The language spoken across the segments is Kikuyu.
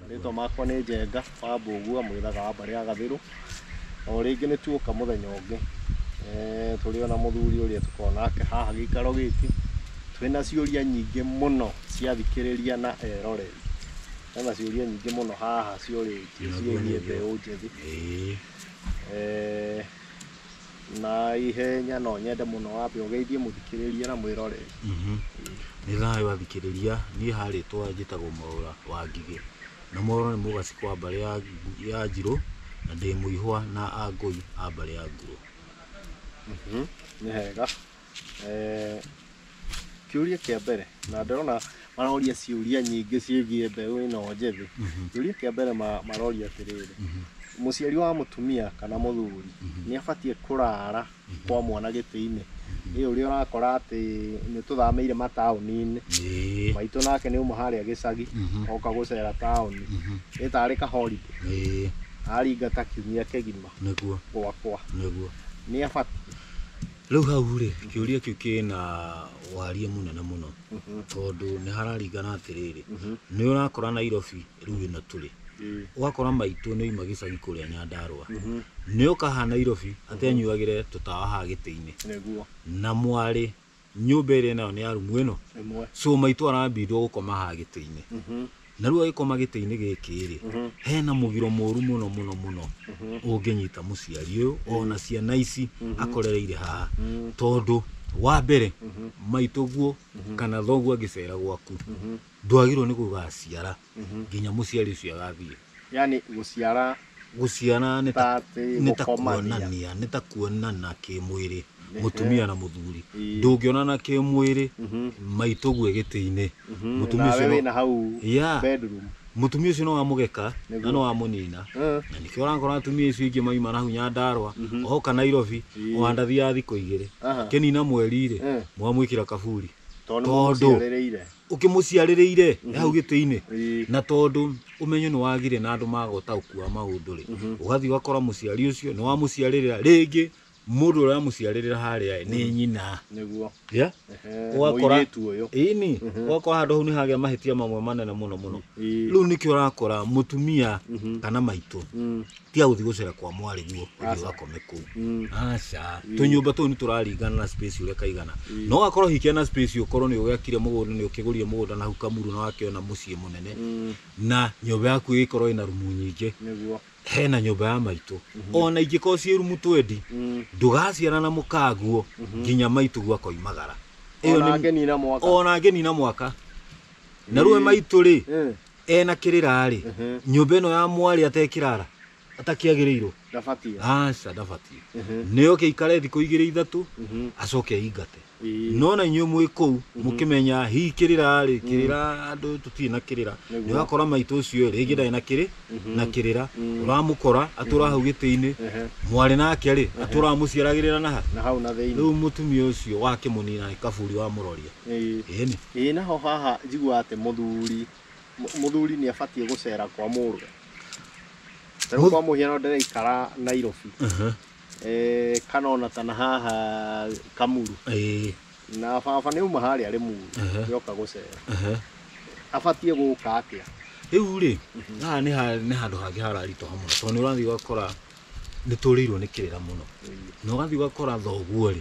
Rĩtwa makwa nĩ Njenga wa Mbũgua mwĩthaga wa mbarĩ ya Gathĩrũ. O rĩngĩ nĩ tuoka mũthenya ũngĩ eh, tũrĩ ona mũthuri ũrĩa tũkoragwo nake haha gĩikaro gĩkĩ twĩna ciũria nyingĩ mũno cia thikĩrĩria na eroreri. Hena ciũria nyingĩ mũno haha ciũrĩtio ciĩgiĩ mbeũ njĩthĩ. Eh, Na ihenya no nyende mũno wambe ũgeithie mũthikĩrĩria na mwĩroreri. Mhm. Nĩ thayũ athikĩrĩria, niĩ ha rĩtwa njĩtagwo Mwaũra wa Ngigĩ. Na Mwaũra nĩ mũgacĩ kwa mbarĩ ya ya Njirũ, na ndĩ Mũihwa na Angũi a mbarĩ ya Ngurũ. Mhm. Nĩ hega. Eh, kĩũria kĩa mbere na ndĩrona maroria ciũria nyingĩ ciĩgiĩ mbeũ ĩno njĩthĩ kĩũria kĩa mbere ma- maroria atĩrĩrĩ mũciari wa mũtumia kana mũthuri nĩ abatiĩ kũrara kwa mwana gĩtĩ-inĩ ĩyo ũrĩa ũrakora atĩ nĩ tũthamĩire mataũni-inĩ Ĩĩ. maitũ nake nĩ uma harĩa gĩcagi Mhm. oka gũcera taũni Mhm. ĩtarĩ kahorinde Ĩĩ. aringata kiumia kĩgima Nĩguo. gwakwa Nĩguo. nĩ abatiĩ Rĩu hau rĩ, kĩũria kĩu kĩna waria mũnene mũno tondũ nĩ hararingana atĩrĩrĩ, nĩ ũrakora Nairobi rĩu ĩno tũrĩ ũgakora maitũ nĩ oima gĩcagi kũrĩa Nyandarũa nĩ oka haha Nairobi atĩ anyuagĩre tũtawa haha gĩtĩ-inĩ Nĩguo. na mwarĩ nyũmba ĩrĩa ĩnayo nĩ ya rumu ĩno Ĩmwe. so maitũ arambindwo gũkoma haha gĩtĩ-inĩ Naruo gĩkoma gĩtĩ-inĩ gĩkĩ-rĩ, hena mũgiro mũru mũno mũno mũno ũngĩnyita mũciari ũyũ ona ciana ici akorereire haha. Tondũ wa mbere, maitũguo kana thoguo angĩcera gwaku, ndwagĩrĩirwo nĩ gũgaciara nginya mũciari ũcio agathiĩ. Yaani gũciara Gũciara nĩ ta atĩ nĩ ta gũkomania. kuonania nĩ ta kuonana kĩmwĩrĩ mũtumia na mũthuri Ii. ndũngĩonana kĩmwĩrĩ maitũ guĩ gĩtĩ-inĩ mũtumia nawe ũcio wĩ no- na hau Yeah. bedroom mũtumia ũcio no wamũgeka na Nĩguo. no wamũnina Eh, na nĩkĩo ũrakora atumia icio ingĩ maima nahau nyandarwa oka nairobi wandathi ya thikũ igĩrĩ Aha. kĩnina mweri-rĩ Eh. mwamwĩkĩra kaburi tondũ nĩ Tondũ. mũciarĩrĩire ũkĩmũciarĩrĩire mm -hmm. hau gĩtĩ-inĩ na tondũ ũmenyo nĩ wagire na andũ maga ũtaũku wa maũndũ rĩ mhm. ũgathiĩ ũgakora mũciari ũcio nĩ wamũciarĩrĩra rĩngĩ mũndũ ũrĩa wamũciarĩrĩra harĩa nĩ mhm. nyina ũgakora ini mhm. ũgakora handũ hau nĩ hagĩa mahĩtia mamwe manene mũno mũno rĩu nĩkĩo ũrakora mũtumia kana maitũ mm. tiga gũthiĩ gũcera kwa mwarĩguo ũthiĩ Aca. ũgakome kũu Mm. aca tũnyũmba tũu nĩ tũraringana na space ũrĩa kaigana no gakorwo hikia na space ũkorwo nĩ ũgĩakire mũgũnda nĩ ũkĩgũrire mũgũnda na hau kamuru na wakĩona mũciĩ mũnene Mm. na nyũmba yaku ĩgĩkorwo ĩna rumu nyingĩ Nĩguo. hena nyũmba ya maitũ ona ingĩkorwo ciĩ rumu twendi Mm. ndũgaciara na mũkaguo nginya maitũ guakoimagara Ona ngeni na mwaka. ona ngeni na mwaka na rũe maitũ rĩ Eh. ena kirira-ri nyumba ino ya mwari atekirara atakiagirirwo Ndabatie. aca ndabatie nio kiikare thiku igiri ithatu acoke aingate Ii. no na inyuĩ mwĩ kũu mũkĩmenya hihi kĩrĩra rĩ kĩrĩra andũ tũtirĩ na kĩrĩra Nĩguo. nĩ wakora maitũ ũcio rĩngĩ ndarĩ na kĩrĩ na kĩrĩra ũramũkora atũra hau gĩtĩ-inĩ Ehe. mwarĩ nake rĩ atũra mũciaragĩrĩra na ha Na hau na thĩinĩ. rĩu mũtumia ũcio wakĩmũnina nĩ kaburi wamũroria Ĩĩ. Ĩĩni. Ĩĩ naho haha njiguaga atĩ mũthuri mũthuri nĩ abatiĩ gũcera kwa mũrũ. Tarĩu Mũth- kwa mũhiano ndĩraikara Nairobi Aha. eh, kana ona tana haha Kamuru Ĩĩ. na baba nĩ uma harĩa Rĩmuru Aha. yoka gũcera Aha. abatiĩ gũka atĩa? Rĩu rĩ, haha nĩ ha- nĩ handũ hangĩ hararitũha mũno tondũ nĩ ũrathiĩ ũgakora nĩ tũrĩirwo nĩ kĩrĩra mũno na ũgathiĩ ũgakora thoguo rĩ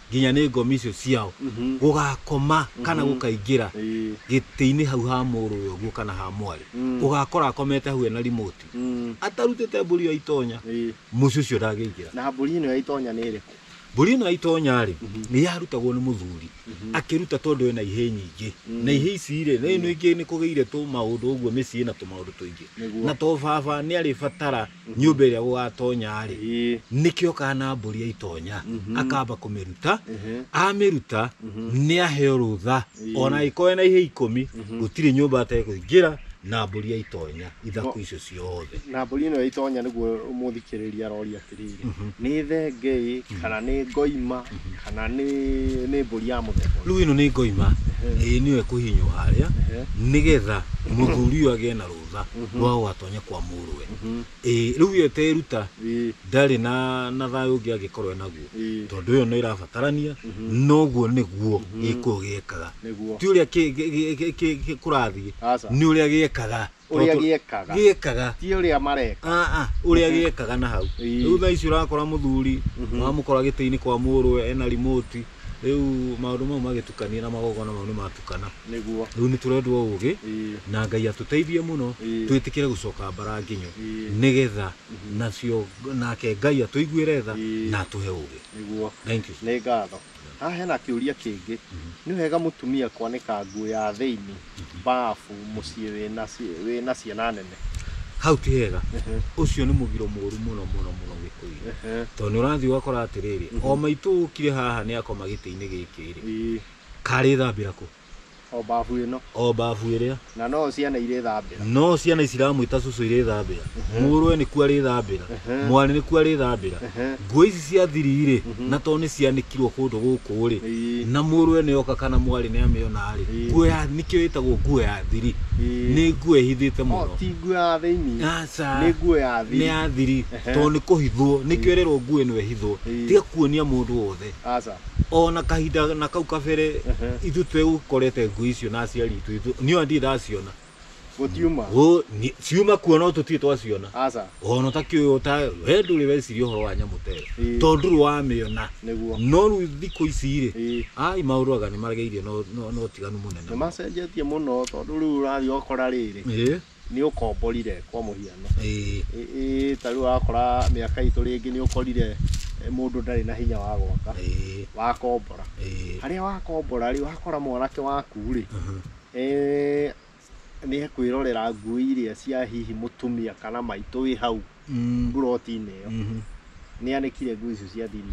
nginya nĩ ngomi icio ciao Mhm. gũgakoma kana gũkaingĩra Ĩĩ. gĩtĩ-inĩ hau ha mũrũwe ũguo kana ha mwarĩ Mm. ũgakora akomete hau ena rimoti Mm. atarutĩte mbũri ĩyo itonya Ĩĩ. mũciĩ ũcio ndangĩingĩra na mbũri ĩno ya itonya nĩ ĩrĩkũ mbũri ĩno ya itonya rĩ Mhm. nĩ yarutagwo nĩ mũthuri Mhm. akĩruta tondũ ena ihĩ nyingĩ Mm. na ihĩ ici rĩ na ĩno ingĩ nĩ kũgĩire tũ maũndũ ũguo mĩciĩ na tũmaũndũ tũingĩ Nĩguo. na to baba nĩ arĩbatara nyũmba ĩrĩa gũgatonya-rĩ nĩkĩo kana mbũri aitonya akamba kũmĩruta amĩruta nĩ aheo rũtha ona ĩkoe na ihe ikũmi gũtirĩ nyũmba atekũingĩra na mbũri aitonya ithaku icio ciothe na mbũri ĩno ĩtonya nĩguo mũthikĩrĩria aroria atĩrĩrĩ nĩ thenge ĩ kana nĩ ngoima kana nĩ nĩ mbũri ya mũthemba rĩu ĩno nĩ ngoima ĩĩ nĩyo ĩkũhinywo harĩa nĩgetha mũthuri ũyũ agĩe na rũtha kuga no watonye kwa mũrũwe ĩĩ rĩu ĩyo ĩteruta Ĩĩ. ndarĩ na na thayũ ũngĩ angĩkorwo enaguo Ĩĩ. tondũ ĩyo no ĩrabatarania noguo nĩguo gĩkũyũ gĩekaga Nĩguo. ti ũrĩa kĩ- gĩ- gĩ- gĩ- gĩ- gĩ- kũrathiĩ Aca. nĩ ũrĩa gĩekaga Ũrĩa Tondũ- gĩekaga. gĩekaga ti ũrĩa mareka Ah, ah, ũrĩa gĩekaga na hau Ĩĩ. rĩu thaa ici ũrakora mũthuri ũramũkora gĩtĩ-inĩ kwa mũrũwe ena rimoti rĩu maũndũ mau magĩtukania na magongona mau nĩ matukana nĩguo rĩu nĩ tũrendwo ũgĩ ĩĩ na ngai atũteithie mũno Ĩĩ. twĩtĩkĩre gũcoka mbara nginyo Ĩĩ. nĩgetha nacio nake ngai atũiguĩre tha Ĩĩ. na atũhe ũgĩ nĩguo Thank you. nĩ ngatho haha hena kĩũria kĩngĩ nĩ wega mũtumia kwanĩka nguo ya thĩinĩ bafu muciĩ wĩna ci- wĩna ciana nene hau ti hega ũcio nĩ mũgiro mũru mũno mũno mũno gĩkũyũ Ehe. tondũ nĩ ũrathiĩ ũgakora atĩrĩrĩ o maitũ ũkire haha nĩ akoma gĩtĩ-inĩ gĩkĩ rĩ Ii, karĩthambĩra kũ o bafu ĩno o mbabu ĩrĩa na no ciana irĩ thambĩra no ciana iciramwĩta cũcũ irĩthambĩra mũrũwe nĩkuo arĩthambĩra mwarĩ nĩkuo arĩthambĩra Ehe. nguo ici cia thiri-rĩ na to nĩ cianĩkirwo kũndũ gũkũ-rĩ Ĩĩ. na mũrũwe nĩ oka kana mwarĩ nĩ amĩona-rĩ Ĩĩ. nguo ya nĩkĩo ĩtagwo nguo ya thiri Ĩĩ. nĩ nguo ĩhithĩte O, mũno ti nguo ya thĩinĩ Aca. nĩ nguo ya nĩ thiri ya thiri Ehe. tondũ nĩ kũhithwo nĩkĩo ĩrerwo nguo ĩno ĩhithwo Ĩĩ. tiga kuonia mũndũ wothe aca ona kahinda na kau kabere Ehe. ithuĩ tũgũkorete nguo icio na aciari itũ itũ niũ ndirĩ ndaciona Gũtiuma. Ũ- ni- ciuma kuo no tũtirĩ twaciona Aca. ona ũtakĩ ũyũ ta we ndũrĩ weciria ũhoro wa nyamũ ta ĩyo Ĩĩ. tondũ ndũrĩ wamĩona Nĩguo. no rĩu thikũ ici rĩ Ĩĩ. ai maũndũ aga nĩ maregeirie no- no no ũtiganu mũnene Nĩ macenjetie mũno tondũ rĩu ũrathiĩ ũgakora rĩrĩ Ĩĩ, nĩ ũkomborire kwa mũhiano. ĩĩ, Ĩ- ĩ, Ta rĩu wakora mĩaka itũ rĩngĩ nĩ ũkorire eh, mũndũ ndarĩ na hinya wa gwaka ĩĩ, wakombora. ĩĩ. Harĩa wakombora rĩ wakora mwanake waku rĩ Mhm. Eeh nĩ ekwĩrorera nguo iria cia hihi mũtumia kana maitũ wĩ hau Mm. mburoti-inĩ ĩyo Mhm. nĩ anĩkire nguo icio cia thiri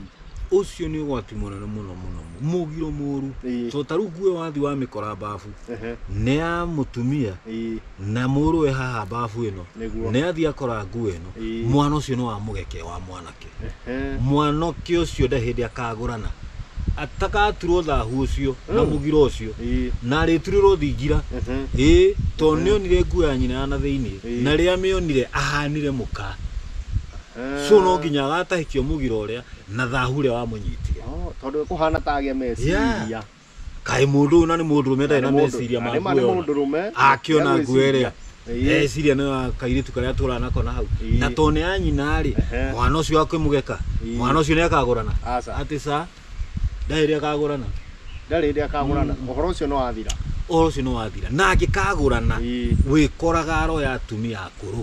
Ũcio nĩ ũgwati mũnene mũno mũno. Mũgiro mũru. Ĩĩ. To ta rĩu nguo ĩyo wathi wa mĩkora babu. Ehe, Nĩ ya mũtumia ĩĩ, na mũrũwe haha babu ĩno. Nĩguo. Nĩ athi akora nguo ĩno. Ĩĩ. Mwana ũcio nĩ wa mũgeke wa mwanake. Ehe. mwanake ũcio nda hĩndĩ akagũrana atagaturwo thahu ũcio na Mm. mũgira ũcio Ii. na arĩturĩrwo thingira Ehe. ĩĩ tondũ Mhm. nĩonire nguo ya nyina ya na thĩinĩ Ĩĩ. na rĩrĩa mĩonire ahanire mũka Ehe. so no nginya agatahĩkio mũgira ũrĩa na thahu ũrĩa wamũnyitire Oh, tondũ kũhana ta agĩa meciria Yeah. kaĩ mũndũ ũyũ na nĩ mũndũ ũrũme ndarĩ na meciria ma nĩma nĩ nguo mũndũ rũme akĩona nguo ĩrĩa Ĩĩ. eciria nĩ ya kairĩtu karĩa tũraga nako na hau Ĩĩ. na to nĩ ya nyina rĩ Ehe. mwana ũcio akĩmũgeka Ĩĩ. mwana ũcio nĩ akagũrana Aca. atĩ sa ndarĩ rĩ akagũrana ndarĩ hĩndĩ akagũrana ũhoro ũcio nĩ wathira ũhoro ũcio nĩ wathira na angĩkagũrana Ĩĩ. wĩkoraga aroya atumia akũrũ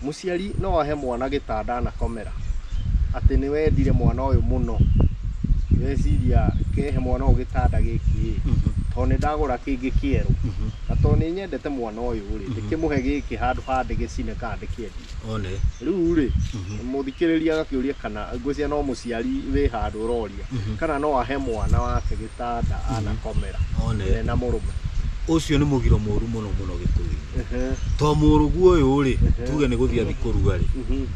Mũciari no ahe mwana gĩtanda anakomera, atĩ nĩ wendire mwana ũyũ mũno, weciria kehe mwana ũyũ gĩtanda gĩkĩ ĩ, tondũ nĩ ndagũra kĩngĩ kĩerũ, na tondũ nĩ nyendete mwana ũyũ rĩ, ndĩkĩmũhe gĩkĩ handũ ha ndĩgĩcine kana ndĩkĩendie. One. Rĩu rĩ, mũthikĩrĩria agakĩũria kana ngwĩciria no mũciari wĩ handũ ũroria. Mhm. kana no ahe mwana wake gĩtanda anakomera one we na mũrũme ũcio nĩ mũgiro mũru mũno mũno gĩkũyũ-inĩ Ehe, to mũrũguo ũyũ rĩ Mhm. tuge nĩ gũthiĩ athi kũruga rĩ mhm,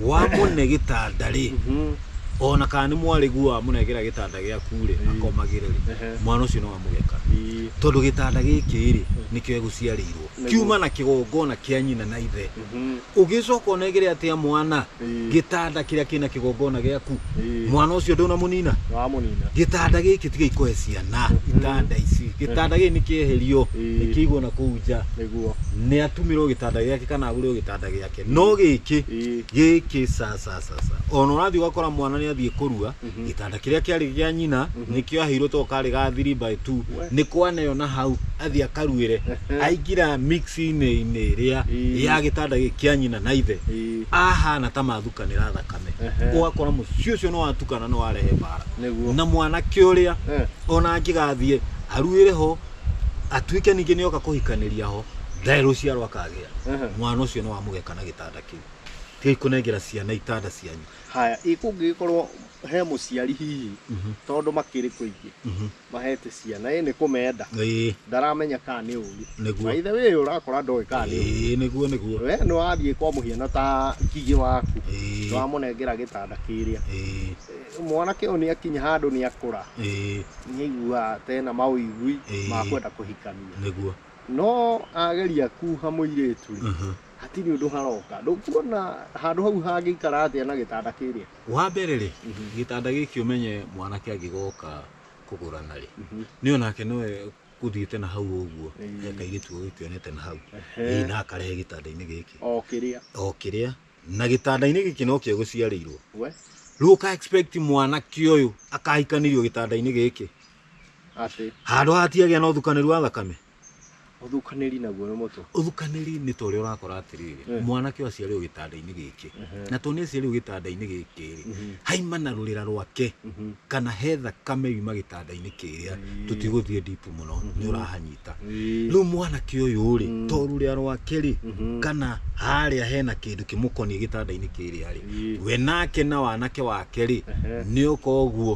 wamũne gĩtanda rĩ mhm, ona kana nĩ mwarĩguo wamũnengera gĩtanda gĩaku rĩ Ĩĩ. akomagĩre rĩ ehe, mwana ũcio no amũgeka ii, tondũ gĩtanda gĩkĩ rĩ nĩkĩo egũciarĩirwo Nĩguo. kiuma na kĩgongona kĩa nyina na ithe mhm. ũgĩcoka ũnegere atĩa mwana Ĩĩ. gĩtanda kĩrĩa kĩna kĩgongona gĩaku Ĩĩ. mwana ũcio ndũnamũnina Nĩwamũnina. gĩtanda gĩkĩ tiga ikoe ciana itanda ici gĩtanda gĩkĩ nĩ kĩeherio Ĩĩ. nĩ kĩigwo na kũu nja Nĩguo. nĩ atumĩrwo gĩtanda gĩake kana agũrĩrwo gĩtanda gĩake no gĩkĩ Ĩĩ. gĩkĩ sasasasa ona ũrathiĩ ũgakora mwana nĩ athiĩ kũrua gĩtanda kĩrĩa kĩarĩ gĩa nyina nĩkĩo aheirwo to karĩ ga 3 by 2 nĩ kwaneo na hau athiĩ akaruĩre aingĩra mixinĩ-inĩ ĩrĩa Ĩĩ. ya gĩtanda gĩkĩ kĩa nyina na ithe Ĩĩ. ahana ta mathukanĩra thakame Ehe. ũgakora mũciĩ ũcio nĩ watukana nĩ warehe mbara Nĩguo. na mwanake ũrĩa Eh. ona angĩgathiĩ aruĩre ho atuĩke ningĩ nĩ oka kũhikanĩria ho ndarĩ rũciaro akagĩa Ehe. mwana ũcio nĩ wamũgeka na gĩtanda kĩu tigai kũnengera ciana itanda cianyu Haya, ĩ kũngĩgĩkorwo he mũciari hihi tondũ makĩrĩ kũingĩ mahete ciana ĩ nĩ kũmenda ĩĩ ndaramenya kana nĩ ũru Nĩguo. na ithe wĩ ũrakora ndoĩ kana nĩ ũru ĩĩ nĩguo nĩguo we nĩ wathiĩ kwa mũhiano ta ngigĩ waku Ĩĩ. nĩ wamũnengera gĩtanda kĩrĩa ĩĩ Eh, mwanake ũyũ nĩ akinya handũ nĩ akũra ĩĩ nĩ aiguaga tena maũigui Ĩĩ. ma kwenda kũhikania nĩguo no ageria kuha mũirĩtu rĩ Mhm. Hatirĩ ũndũ haroka. Ndũkuona handũ hau hangĩikara atĩa na gĩtanda kĩrĩa? Wa mbere rĩ, gĩtanda gĩkĩ ũmenye mwanake angĩgoka kũgũrana rĩ, nĩ onake no egũthiĩte na hau ũguo, he kairĩtu ũgũkĩonete na hau, ĩĩ na akarehe gĩtanda-inĩ gĩkĩ, O kĩrĩa. o kĩrĩa, na gĩtanda-inĩ gĩkĩ nokĩo gũciarĩirwo. We, Rĩu ũka expect mwanake ũyũ akahikanirio gĩtanda-inĩ gĩkĩ, atĩ. handũ ha ati agĩa na ũthukanĩru wa thakame? Ũthukanĩri naguo nĩ mũtwe. Ũthukanĩri nĩ ta ũrĩa ũrakora atĩrĩrĩ, Eh. mwanake ũyũ aciarĩirwo gĩtanda-inĩ gĩkĩ, Ehe. na tondũ nĩ aciarĩirwo gĩtanda-inĩ gĩkĩ rĩ, Mhm. haima na rũrĩra rwake Mhm. kana he thakame yuma gĩtanda-inĩ kĩrĩa Mm. tũtigũthiĩ ndipu mũno nĩ ũrahanyita Ĩĩ. rĩu mwanake ũyũ rĩ Mm. to rũrĩa rwake rĩ Mhm. kana harĩa hena kĩndũ kĩmũkoniĩ gĩtanda-inĩ kĩrĩa rĩ Ĩĩ. we nake na wanake wake rĩ Ehe. nĩ ũka ũguo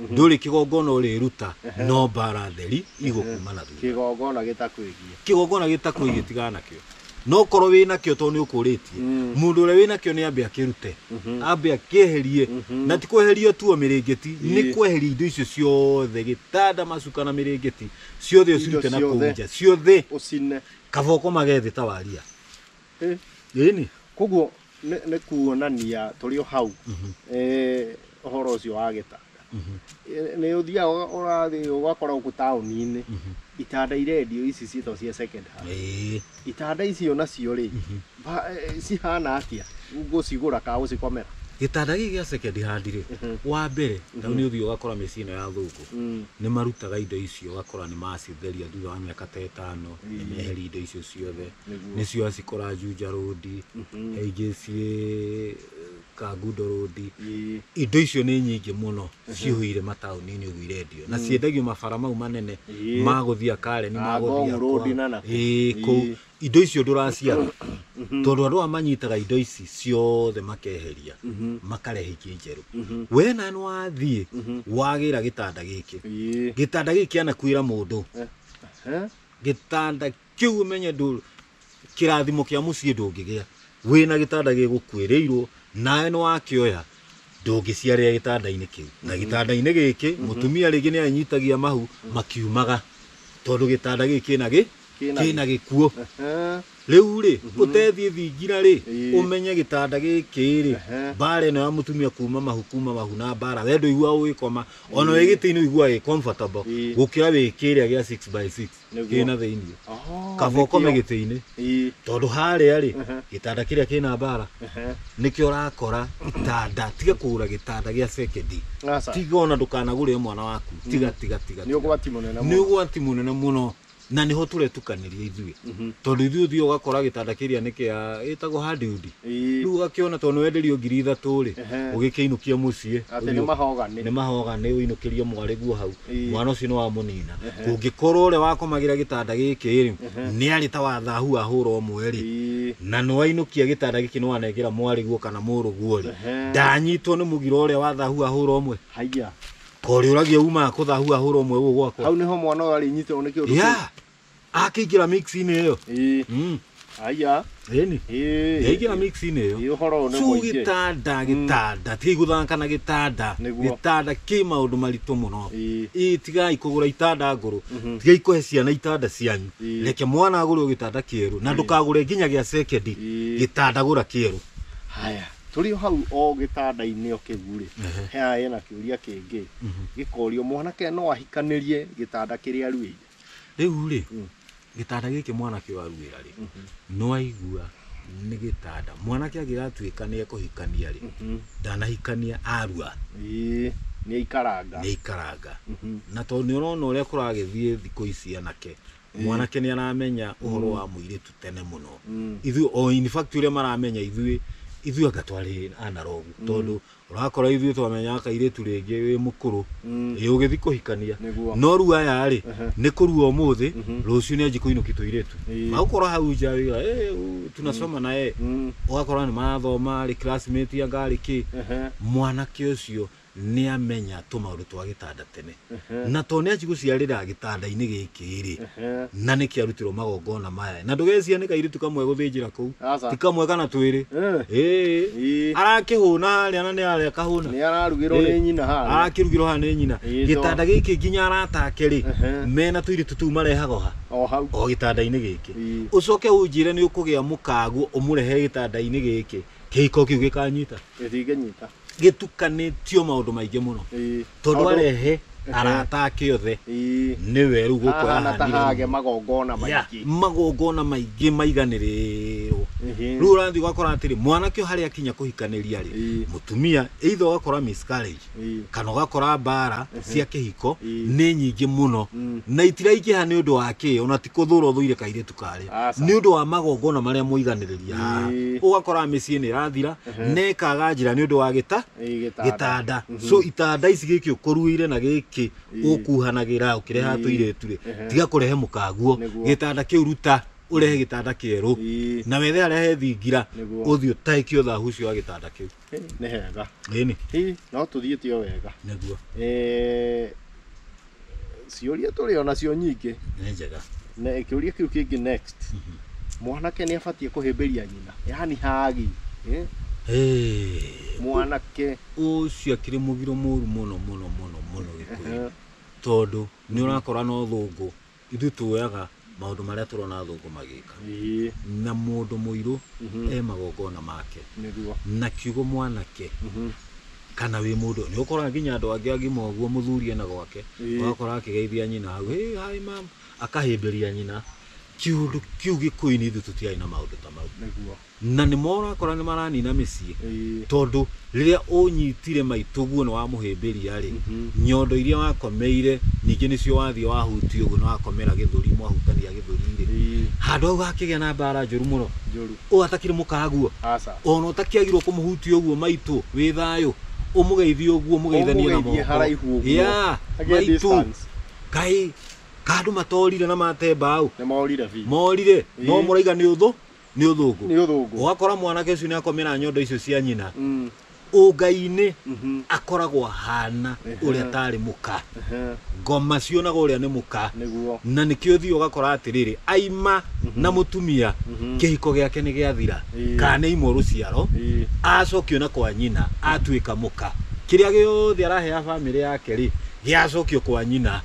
ndũrĩ kĩgongona ũrĩruta no mbara theri igũkuma na thutha kĩgongona gĩtakwĩgiĩ kĩgongona gĩtakwĩgiĩ tigana nakĩo no korwo wĩ nakĩo tondũ nĩ ũkũrĩtie Mm. mũndũ ũrĩa wĩ nakĩo nĩ ambe akĩrute Mhm. ambe akĩeherie Mhm. na ti kweheria tuo mĩrĩngĩti Ĩĩ. nĩ kweheria indo icio ciothe gĩtanda macuka na mĩrĩngĩti ciothe Indo ũcirute na kũu ciothe. nja ciothe ũcine kaboko magethĩ ta waria Eh. Ĩni. koguo nĩ nĩ kuonania tũrĩ o hau eh, ũhoro ũcio wa gĩtanda Eh, nĩ ũthiaga ũga- ũrathiĩ ũgakora gũkũ taũni-inĩ itanda irendio ici ciĩtagwo cia second hand Ĩĩ. itanda icio nacio rĩ ba- eh, cihana atĩa gũcigũra kana gũcikomera Gĩtanda gĩkĩ gĩa second hand rĩ, Mhm. wa mbere, na nĩ ũthiĩ ũgakora mĩciĩ ĩno ya thũngũ, Mm. nĩ marutaga indo icio ũgakora nĩ macitheria thutha wa mĩaka ta ĩtano, nĩ meheria indo icio ciothe. nĩcio acikora Juja Road, AJC Kangundo Road. Indo icio nĩ nyingĩ mũno cihũire mataũni-inĩ ũguo irendio na ciendagio mabara mau manene Ĩĩ. ma gũthiĩ Karen ma Ah, gũthiĩ Ngong Road Akwa. na nakũ. Ĩĩ, Ĩĩ. kũu indo icio ndũraciaga tondũ andũ aya manyitaga indo ici ciothe makeheria makarehe ingĩ njerũ we na nĩ wathiĩ wagĩra gĩtanda gĩkĩ Ĩĩ. gĩtanda gĩkĩ kĩanakuĩra mũndũ Eh, gĩtanda Kĩu ũmenye ndũ- kĩrathimo kĩa mũciĩ ndũngĩgĩa wĩna gĩtanda gĩgũkuĩrĩirwo nawe nĩwakĩoya ndũngĩciarĩra gĩtandainĩ kĩu na gĩtandainĩ gĩkĩ mũtumia rĩngĩ nĩanyitagia mahu makiumaga tondũ gĩtanda gĩkĩ kĩna gĩ Kĩna kĩna gĩkuo Ehe. rĩu rĩ ũtethiĩ thingira rĩ Ĩĩ. ũmenye gĩtanda gĩkĩ rĩ Ehe. mbara ĩno ya mũtumia kuma mahu kuma mahu na mbara we ndũigua ũgĩkoma ona wĩ gĩtĩinĩ ũiguaga ĩ comfortable Ĩĩ. gũkĩra wĩ kĩrĩa gĩa 6 by 6 Nĩguo. ĩna thĩinĩ Oh, kaba nĩkĩo. ũkome gĩtĩ-inĩ Ĩĩ. tondũ harĩa rĩ Aha. gĩtanda kĩrĩa kĩna mbara Aha. nĩkĩo ũrakora gĩtanda tiga kũgũra gĩtanda gĩa sekendi Aca. tiga ona ndũkanagũrĩre mwana waku tiga tiga tiga Nĩ ũgwati mũnene nĩ mũno. ũgwati mũnene mũno na nĩho tũretukanĩria ithuĩ Mhm. tondũ ithuĩ ũthiĩ ũgakora gĩtanda kĩrĩa nĩ kĩa ĩtagwo hadiudi Ĩĩ. rĩu ũgakĩona tondũ nĩwenderio ngiri ithatũ rĩ Ehe. ũgĩkĩinũkia mũciĩ Atĩ ũthiĩ- nĩ mahoganĩ. nĩ mahoganĩ ũinũkĩrie mwarĩ guo hau Ĩĩ. mwana ũcio nĩwamũnina kũngĩkorwo ũrĩa wakomagĩra gĩtanda gĩkĩ rĩ nĩarĩ ta wathahu wahũra ũmwe rĩ Ĩĩ. na nĩwainũkia gĩtanda gĩkĩ nĩwanengera mwarĩ guo kana mũrũ guo rĩ Ehe. ndanyitwo nĩ mũgiro ũrĩa wathahu wahũra ũmwe Haiya. korĩũragia umaga kũthahu wahũra ũmwe gũkũ gwakwa Hau nĩho mwana ũyũ arĩnyitĩrwo nĩ kĩũndũ kĩu. Yeah. akĩingĩra mix-inĩ ĩyo ĩĩ Mm, aya ĩni ĩĩ yaingĩra mix-inĩ ĩyo ĩĩ ũhoro ũyũ nĩ Suu mũingĩ gĩtanda gĩtanda tigai gũthaka na gĩtanda Nĩguo. gĩtanda kĩ maũndũ maritũ mũno Ĩĩ. ĩĩ tigai kũgũra itanda ngũrũ tigai kũhe ciana itanda cianyu Ĩĩ. reke mwana agũrĩrwo gĩtanda kĩerũ na ndũkagũre nginya gĩa sekendi Ĩĩ. gĩtanda gũra kĩerũ haya tũrĩ o hau o gĩtanda-inĩ o kĩu rĩ Ehe. haya hena kĩũria kĩngĩ gĩkorio mwanake no ahikanĩrie gĩtanda kĩrĩa aruĩire Rĩu rĩ, gĩtanda gĩkĩ mwanake ũyũ aruĩra rĩ, nĩ waigua nĩ gĩtanda. Mwanake angĩgatuĩka nĩ ekũhikania rĩ, ndanahikania arua Ĩĩ, nĩ aikaranga. nĩ aikaranga. Na tondũ nĩ ũrona ũrĩa kũragĩthiĩ thikũ ici anake, mwanake nĩ aramenya ũhoro wa mũirĩtu tene mũno. Ithuĩ, o in fact ũrĩa maramenya ithuĩ, ithuĩ anga twarĩ analogu tondũ ũrakora ithuĩ twamenyaga kairĩtu rĩngĩ wĩ mũkũrũ Mm. ĩ ũgĩthi kũhikania Nĩguo. no rĩu aya rĩ Ehe. nĩ kũrua ũmũthĩ Mhm. rũciũ nĩ anji kũinũki tũirĩtu Ĩĩ. magũkora hau nja wĩra "Eh, u, tunasoma na yeye Mm. ũgakora nĩ marathoma rĩ classmate anga rĩ kĩ Ehe. mwanake ũcio nĩ amenya tũmaũndũ twa gĩtanda tene na to nĩ acigũciarĩra gĩtanda-inĩ gĩkĩ-rĩ na nĩ kĩarutirwo magongona maya na ndũgeciria nĩ kairĩtu kamwe gũthĩnjĩra kũu Aca. ti kamwe kana twĩrĩ Eh. Ĩĩ. Ĩĩ. arakĩhũna harĩa na nĩ harĩa kahũna nĩ ararugĩrwo nĩ nyina harĩa arakĩrugĩrwo haha nĩ nyina Ĩĩ, gĩtanda gĩkĩ nginya arata ake rĩ Ehe. mena tũirĩtu tũu marehaga oha o hau o gĩtanda-inĩ gĩkĩ Ĩĩ. ũcoke ũnjĩre nĩ ũkũgĩa mũkaguo ũmũrehe gĩtanda-inĩ gĩkĩ kĩhiko kĩu gĩkanyita gĩtingĩnyita gĩtukanĩtio maũndũ maingĩ mũno Ĩĩ. tondũ Maũndũ- arehe Ehe. arata ake othe Ĩĩ. nĩwe rĩu gũkũ Hahana ta yahanire hage magongona Ya, maingĩ magongona maingĩ maiganĩrĩrwo Ehe. rĩu ũrathiĩ ũgakora atĩrĩ mwanake ũyũ harĩa akinya kũhikaniria rĩ Ĩĩ. mũtumia either ũgakora miscarriage Ĩĩ. kana ũgakora mbara cia kĩhiko Ĩĩ. nĩ nyingĩ mũno Mm. na itiraingĩha nĩ ũndũ wa kĩ ona ti kũthũra ũthũire kairĩtu karĩ Aca. nĩ ũndũ wa magongona marĩa mũiganĩrĩria haha Ĩĩ. ũgakora mĩciĩ nĩ ĩrathira na ĩkaga njĩra nĩ ũndũ wa gĩta Ĩĩ, gĩtanda. gĩtanda so itanda ici gĩkĩ ũkũruĩire na gĩkĩ ũkuhanagĩra ũkĩreha tũirĩtu rĩ tiga kũrehe mũkaguo Nĩguo. gĩtanda kĩu ruta ũrehe gĩtanda kĩerũ Ĩĩ. na wethe arehe thingira Nĩguo. ũthiĩ ũtahĩkie ũthahu ũcio wa gĩtanda kĩu Ĩ, nĩ hega Ĩni. Hi, no tũthiĩ tio wega Nĩguo. Eh, ciũria tũrĩ o nacio nyingĩ Nĩ njega. na kĩũria kĩu kĩngĩ next mwanake nĩ abatiĩ kũhĩmbĩria nyina yani hagi eh, Hey. mwanake Ũcio akĩrĩ mũgiro mũru mũno mũno mũno mũno gĩkũyũ. tondũ nĩ ũrakora no thũngũ Ithuĩ tuoyaga maũndũ marĩa tũrona athũngũ magĩka Ĩĩ. na mũndũ mũirũ e magongona make Nĩguo. na kiugo mwanake kana wĩ mũndũ nĩ ũkoraga nginya andũ angĩ agima ũguo mũthuri ena gwake Ĩĩ. ũgakora akĩgeithia nyina hau hey, hi mam akahĩmbĩria nyina kiũndũ kĩu gĩkũyũ-inĩ ithuĩ tũtiarĩ na maũndũ ta mau Nĩguo. Na nĩmo ũrakora nĩmaranina mĩciĩ. Ĩĩ. Tondũ rĩrĩa ũnyitire maitũguo nĩ wamũhĩmbĩria-rĩ, nyondo iria wakomeire ningĩ nĩcio wathiĩ wahutia ũguo na wakomera gĩthũri mwahutania gĩthũri-rĩ, Ĩĩ. handũ hau hakĩgĩa na mbara njũru mũno. Njũru. Ũyũ atakĩrĩ mũkaguo, Aca. ona ũtakĩagĩrĩirwo kũmũhutia ũguo maitũ wĩ thayũ, ũmũgeithie ũguo mũgeithanie na Ũmũgeithie moko. haraihu ũguo. Yeah, Agĩe maitũ. distance. Kaĩ ka andũ matorire na mate mbaũ? Nĩmorire biũ. Morire, no Ĩĩ. mũraiga nĩ ũthũ? nĩ ũthũngũ Nĩ ũthũngũ. ũgakora mwanake ũcio nĩ akomera nyondo icio cia nyina Mm. ũngai-inĩ Mhm. akoragwo ahana Ehe. ũrĩa atarĩ mũka Ehe. ngoma cionaga ũrĩa nĩ mũka Nĩguo. na nĩkĩo ũthiĩ ũgakora atĩrĩrĩ aima na mũtumia Mhm. kĩhiko gĩake nĩ gĩathira Ĩĩ. kana nĩ imwo rũciaro Ĩĩ. acokio na kwa nyina atuĩka mũka kĩrĩa gĩothe araheaga bamĩrĩ yake rĩ gĩacokio kwa nyina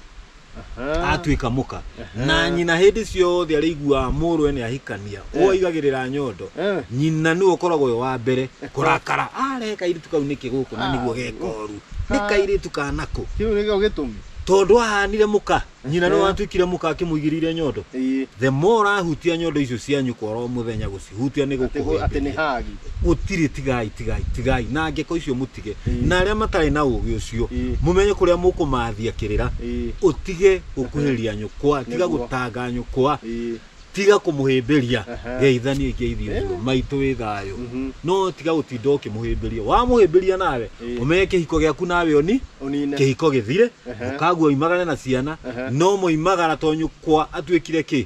Aha. atuĩka mũka Aha. na nyina hĩndĩ ciothe arĩiguaga mũrwe nĩ ahikania Eh. ũigagĩrĩra nyondo Eh. nyina nĩ ũkoragwo ũyũ wa mbere kũrakara are kairĩtu kau nĩkĩ gũkũ na nĩguo gekoru nĩ Ah. kairĩtu kanakũ Kĩu nĩkĩo gĩtũmi. tondũ ahanire mũka nyina nĩ Eh. watuĩkire mũka akĩmũigĩrĩire nyondo Ĩĩ. the more ahutia nyondo icio cia nyũkwa oro mũthenya gũcihutia nĩ Atĩ gũ- atĩ nĩ gũkũhĩmbĩria hagi. gũtirĩ tigai tigai tigai na ngeko icio mũti ũtige Ĩĩ. na arĩa matarĩ na ũũgĩ ũcio Ĩĩ. mũmenye kũrĩa mũkũmathia kĩrĩra Ĩĩ. ũtige gũkuhĩrĩria nyũkwa tiga Nĩguo. gũtanga nyũkwa Ĩĩ. tiga kũmũhĩmbĩria Aha. geithania ingeithi ũthiũ Eh. maitũ wĩ thayũ Mhm. no tiga gũtinda ũkĩmũhĩmbĩria wamũhĩmbĩria nawe Ĩĩ. ũmenye kĩhiko gĩaku nawe ũni Ũnine. kĩhiko gĩthire Aha. mũkaguo oimagare na ciana Aha. no moimagara to nyũkwa atuĩkire kĩ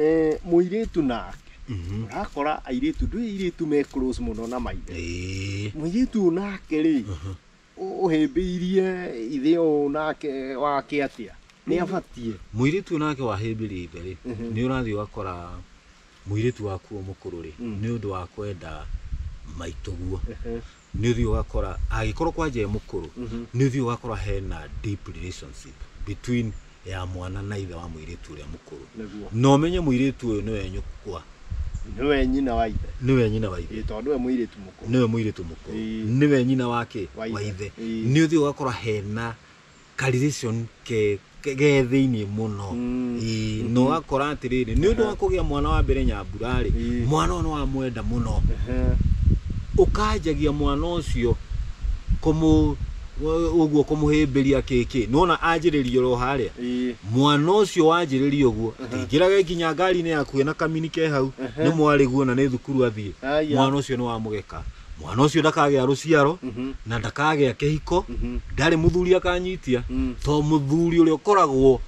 Eh, mũirĩtu nake Mhm. ũrakora airĩtu ndũĩ airĩtu me close mũno na maithe Eh. mũirĩtu ũyũ nake rĩ ũ- ũhĩmbĩirie ithe ũyũ nake wake atĩa nĩ abatiĩ Mũirĩtu ũyũ nake wahĩmbĩria ithe rĩ, nĩ ũrathiĩ ũgakora mũirĩtu waku ũyũ mũkũrũ rĩ, nĩ ũndũ wa kwenda maitũguo. nĩ ũthiĩ ũgakora angĩkorwo kwanja e mũkũrũ nĩ ũthiĩ ũgakora hena deep relationship between ya mwana na ithe wa mũirĩtu ũrĩa mũkũrũ Nĩguo. na ũmenye mũirĩtu ũyũ nĩwe nyũkwa nĩwe nyina wa ithe nĩwe nyina wa ithe Ĩĩ, tondũ we mũirĩtu mũkũrũ nĩwe mũirĩtu mũkũrũ Ĩĩ. nĩwe nyina wake Wa wa ithe. ithe Ĩĩ. nĩ ũthiĩ ũgakora hena calculation ke ke ge thĩinĩ mũno Mm. Ĩĩ, na ũgakora atĩrĩrĩ nĩ ũndũ wa kũgĩa mwana wa mbere nyambura-rĩ Ĩĩ. mwana ũyũ nĩ wamwenda mũno Ehe. ũkanjagia mwana ũcio kũmũ ũ- ũguo kũmũhĩmbĩria kĩkĩ nona anjĩrĩria oro harĩa Ĩĩ. mwana ũcio wanjĩrĩria ũguo atingĩraga nginya ngari-inĩ yaku ena kamini ke hau Ehe. nĩ mwarĩguo na nĩ thukuru athiĩ Aya. mwana ũcio nĩ wamũgeka mwana ũcio ndakagĩa rũciaro Mhm. na ndakagĩa kĩhiko Mhm. ndarĩ mũthuri akanyitia Mm. to mũthuri ũrĩa ũkoragwo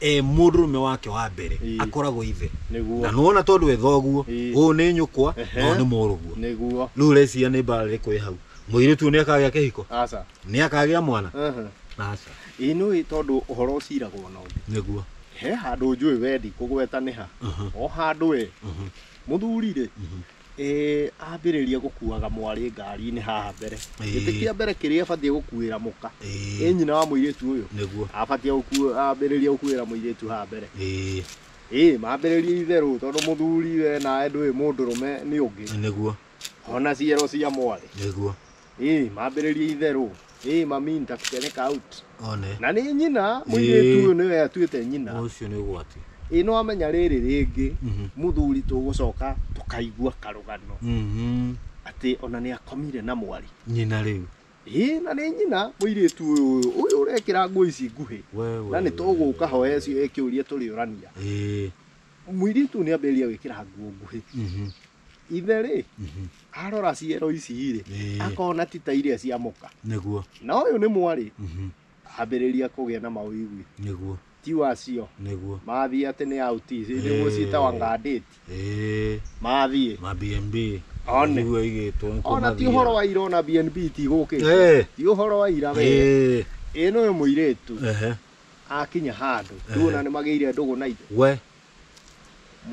e mũndũrũme wake wa mbere Ii. akoragwo ithe na nĩguo nona tondũ ethoguo Ii. ũũ nĩ nyũkwa Ehe. ũũ nĩ mũrũguo nĩguo rĩu ũreciria nĩ mbara ĩrĩkũ ĩ hau mũirĩtu ũyũ nĩ akagĩa kĩhiko aca nĩ akagĩa mwana Aha. aca ĩĩ nĩ ũĩ tondũ ũhoro ũciragwo na ũndũ nĩguo he handũ njũĩ wendi kũgweta nĩ ha Aha. o handũ e Mhm. mũthuri rĩ Mhm. Ĩĩ ambĩrĩrie gũkuaga mwarĩ ngari-inĩ haha mbere. Ĩĩ. Gĩtĩ kĩa mbere kĩrĩa abatiĩ gũkuĩra mũka. Ĩĩ. Ĩ nyina wa mũirĩtu ũyũ? Nĩguo. Abatiĩ gũku- ambĩrĩrie gũkuĩra mũirĩtu haha mbere. Ĩĩ. Ĩ mambĩrĩrie itherũ tondũ mũthuri we nawe ndũĩ mũndũrũme nĩ ũngĩ. Nĩguo. Ona ciero cia mwarĩ. Nĩguo. Ĩĩ, mambĩrĩria itherũ. Ĩĩ, mami nitakupeleka out. One. Na nĩ nyina, mũirĩtu ũyũ nĩwe atuĩte nyina. Ũcio nĩ ũgwati. Ĩĩ nĩ wamenya rĩrĩ rĩngĩ, Mhm. mũthuri tũgũcoka tũkaigua karũgano Mhm. atĩ ona nĩ akomire na mwarĩ. Nyina rĩu. Ĩĩ na nĩ nyina, mũirĩtu ũyũ, ũyũ ũrekĩra nguo ici nguhĩ. We, we, Na nĩ tũgũka ho we, cio- kĩũria tũrĩũrania. Ĩĩ. Mũirĩtu ũyũ nĩ ambĩrĩria gwĩkĩra nguo nguhĩ. Mhm. ithe rĩ arora ciero ici rĩ Ĩĩ. akona ti ta iria cia mũka nĩguo na ũyũ nĩ mwarĩ Mhm. ambĩrĩria kũgĩa na maũigwi nĩguo ti wacio nĩguo mathiĩ atĩ nĩ auti Ĩĩ. nĩguo ciĩtawa ngandĩti Ĩĩ, mathiĩ ma bnb One. nĩguo igĩtwo nĩ ona ti kũmathiĩra. ũhoro wa ira ona bnb tigũkĩte Ĩĩ, ti ũhoro wa ira we ĩĩ, ĩno ũyũ mũirĩtu ehe, akinya handũ Ĩĩ. tuona nĩ magĩire ndũgũ na ithe we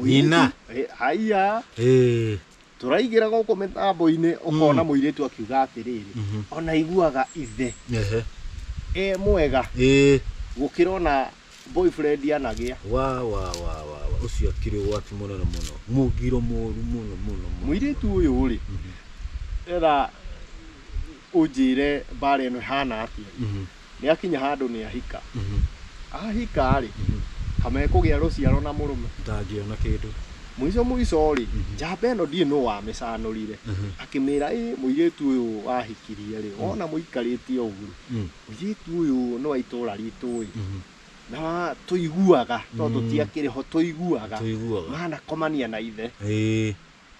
Nyina. Eh, haiya Eh, tũraigĩra gũkũ mĩtambo-inĩ ũkona mũirĩtu akiuga atĩrĩrĩ Mhm. ona iguaga ithe ehe, e mwega eh, gũkĩra ona boyfriend anagĩa wa wa wa wa wa ũcio akĩrĩ ũgwati mũnene mũno mũgiro mũru mũno mũno mũno. mũirĩtu ũyũ rĩ Mhm, etha ũnjĩre mbara ĩno ĩhana atĩa mhm. nĩ akinya handũ nĩ ahika ahika rĩ kamekũgĩa rũciaro na mũrũme ndangĩona kĩndũ mũico mũico rĩ njamba ĩno ndiĩ nũ wamĩcanũrire akĩmĩra ĩ mũirĩtu ũyũ wahikirie rĩ wona mũikarĩtie ũguo rĩ Mm. mũirĩtu ũyũ nĩ wa itũra ritũ ĩ na wa- tũiguaga no tũtiakĩrĩ ho tũiguaga tũiguaga manakomania na ithe ĩĩ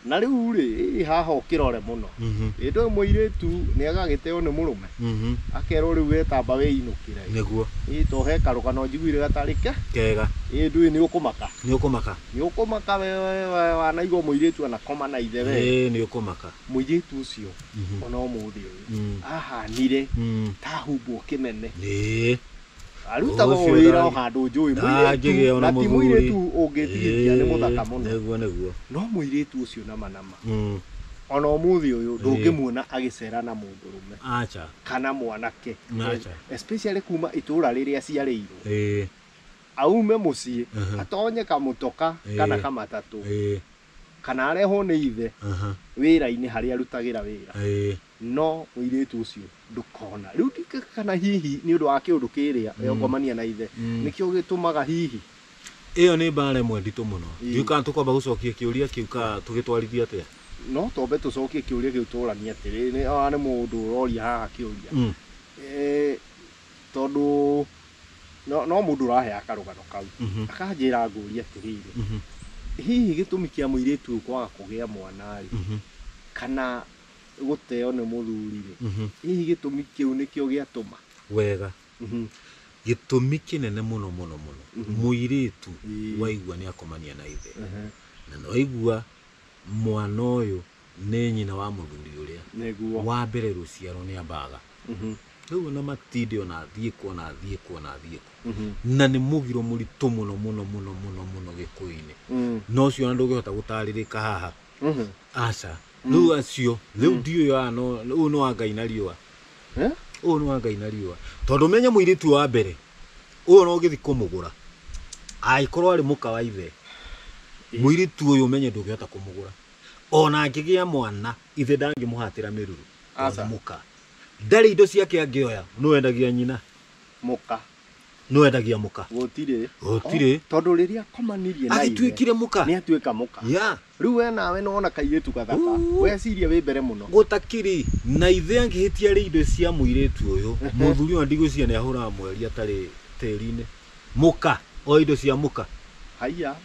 Na rĩu-rĩ, ĩ haha ũkĩrore mũno. Ĩ ndũĩ mũirĩtu nĩ agagĩteyo nĩ mũrũme? Akerwo rĩu wetamba wĩinũkĩre. Nĩguo. Ĩ to he karũgano njiguire gatarĩ ke. Kega. Ĩ ndũĩ nĩ ũkũmaka. Nĩ ũkũmaka. Nĩ ũkũmaka we wanaigua mũirĩtu anakoma na ithe we. Ĩ nĩ ũkũmaka. Mũirĩtu ũcio o na ũmũthĩ ũyũ ahanire ta ahumbwo kĩmeme. Ĩ. Arutaga o wĩra o handũ njũĩ. Mũirĩtu na ti mũirĩtu ũngĩtihĩtia nĩ mũthaka mũno. Nĩguo nĩguo. No mũirĩtu ũcio nama nama. Ona ũmũthĩ ũyũ ndũngĩmuona agĩcera na mũndũrũme. Aca. Kana mwanake. Aca. Especially kuma itũra rĩrĩa aciarĩirwo. Ĩĩ. Aume mũciĩ atonye kamũtoka kana kamatatũ. Ĩĩ. Kana arehwo nĩ ithe wĩra-inĩ harĩa arutagĩra wĩra. Ĩĩ. No mũirĩtu ũcio ndũkona. Rĩu ndingĩka kana hihi nĩ ũndũ wa kĩũndũ kĩrĩa mm. yongomania na ithe mm. nĩkĩo gĩtũmaga hihi ĩyo nĩ mbara ĩmwe nditũ mũno ndiũ kana tũkwamba gũcokia kĩũria kĩu ka tũgĩtwarithia atĩa no twambe tũcokie kĩũria kĩu tũranie atĩrĩ nĩ ona nĩ mũndũ ũroria haha kĩũria mm. e, tondũ no, no mũndũ ũraheaga karũgano kau mm -hmm. akanjĩra ngũria atĩrĩrĩ mm -hmm. hihi gĩtũmi kĩa mũirĩtu ũyũ kwaga kũgĩa mwana rĩ mm -hmm. kana gũteo nĩ mũthuri-rĩ, Mhm. hihi gĩtũmi kĩu nĩkĩo gĩatũma? wega Mhm. gĩtũmi kĩnene mũno mũno mũno Mhm. mũirĩtu Ĩĩ. waigua nĩ akomania na ithe Ehe. na nĩ waigua mwana ũyũ nĩ nyina wa mũthuri ũrĩa Nĩguo. wa mbere rũciaro nĩ ambaga Mhm. rĩu ona matinde ona athiĩ kũ ona athiĩ kũ ona athiĩ kũ Mhm. na nĩ mũgiro mũritũ mũno mũno mũno mũno mũno gĩkũyũ-inĩ Mm. na ũcio ona ndũngĩhota gũtarĩrĩka haha Mhm. aca rĩu acio rĩu ndiũĩ wa no ũyũ nĩ wa ngai na riũa Eh? ũyũ nĩ wa ngai na riũa tondũ menye mũirĩtu wa mbere ũyũ no gĩthi kũmũgũra angĩkorwo arĩ mũka wa ithe mũirĩtu ũyũ menye ndũngĩhota kũmũgũra ona angĩgĩa mwana ithe ndangĩmũhatĩra mĩruru tondũ Aca. nĩ mũka ndarĩ indo ciake angĩoya nĩ wendagia nyina mũka nĩ wendagia mũka gũtirĩ Gũtirĩ. O, tondũ rĩrĩa akomanirie na ithe agĩtuĩkire mũka nĩ atuĩka mũka ya Rĩu we nawe nĩwona kairĩtu gathaka? Wecirie wĩ mbere mũno. Gũtakĩrĩ na ithe angĩhĩtia rĩ indo cia mũirĩtu ũyũ. Mũthuri ona ndigwĩciria nĩahũraga mweri atarĩ tĩri-inĩ. Mũka! Oe indo cia mũka. Haiya.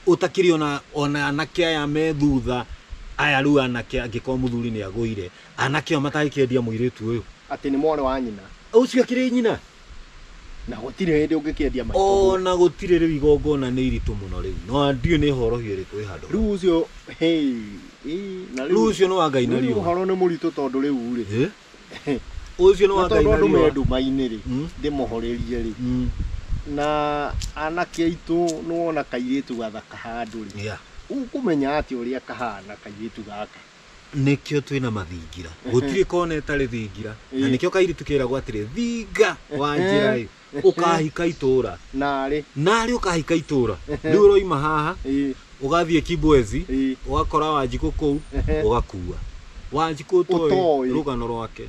Gũtakĩrĩ ona ona anake aya me thutha aya rĩu anake angĩkorwo mũthuri nĩagũire, anake aya matangĩkĩendia mũirĩtu ũyũ. Atĩ nĩ mwarĩ wa nyina. Ũcio akĩrĩ nyina? na gũtirĩ hĩndĩ ũngĩkĩendia maitũ o na gũtirĩ rĩu igongona nĩ iritũ mũno rĩu no ndiũ nĩ horohio ĩrĩkũ ĩ handũ rĩu ũcio hey, ii, na rĩu ũcio nĩ wa ngai na rĩu riũa ũhoro nĩ mũritũ tondũ rĩu rĩ Eh? ũcio nĩ wa na ngai tondũ na andũ me riũa nduma-inĩ rĩ Mm. ndĩmohorerie rĩ Mm, na anake aitũ nĩ wona kairĩtu gathaka handũ rĩ yeah. ũkũmenya atĩ ũrĩa kahana kairĩtu gaka nĩkĩo twĩ na mathingira gũtirĩ kona ĩtarĩ thingira na Ĩĩ. nĩkĩo kairitu kĩragwo atĩrĩ thinga wa njĩra ĩ ũkahika itũra narĩ narĩ ũkahika itũra rĩu ũroima haha Ĩĩ. ũgathiĩ kibwezi Ĩĩ. ũgakora wanjikũ kũu Ehe. ũgakua wanjikũ ũtoĩ Ũtoĩ. rũgano rwake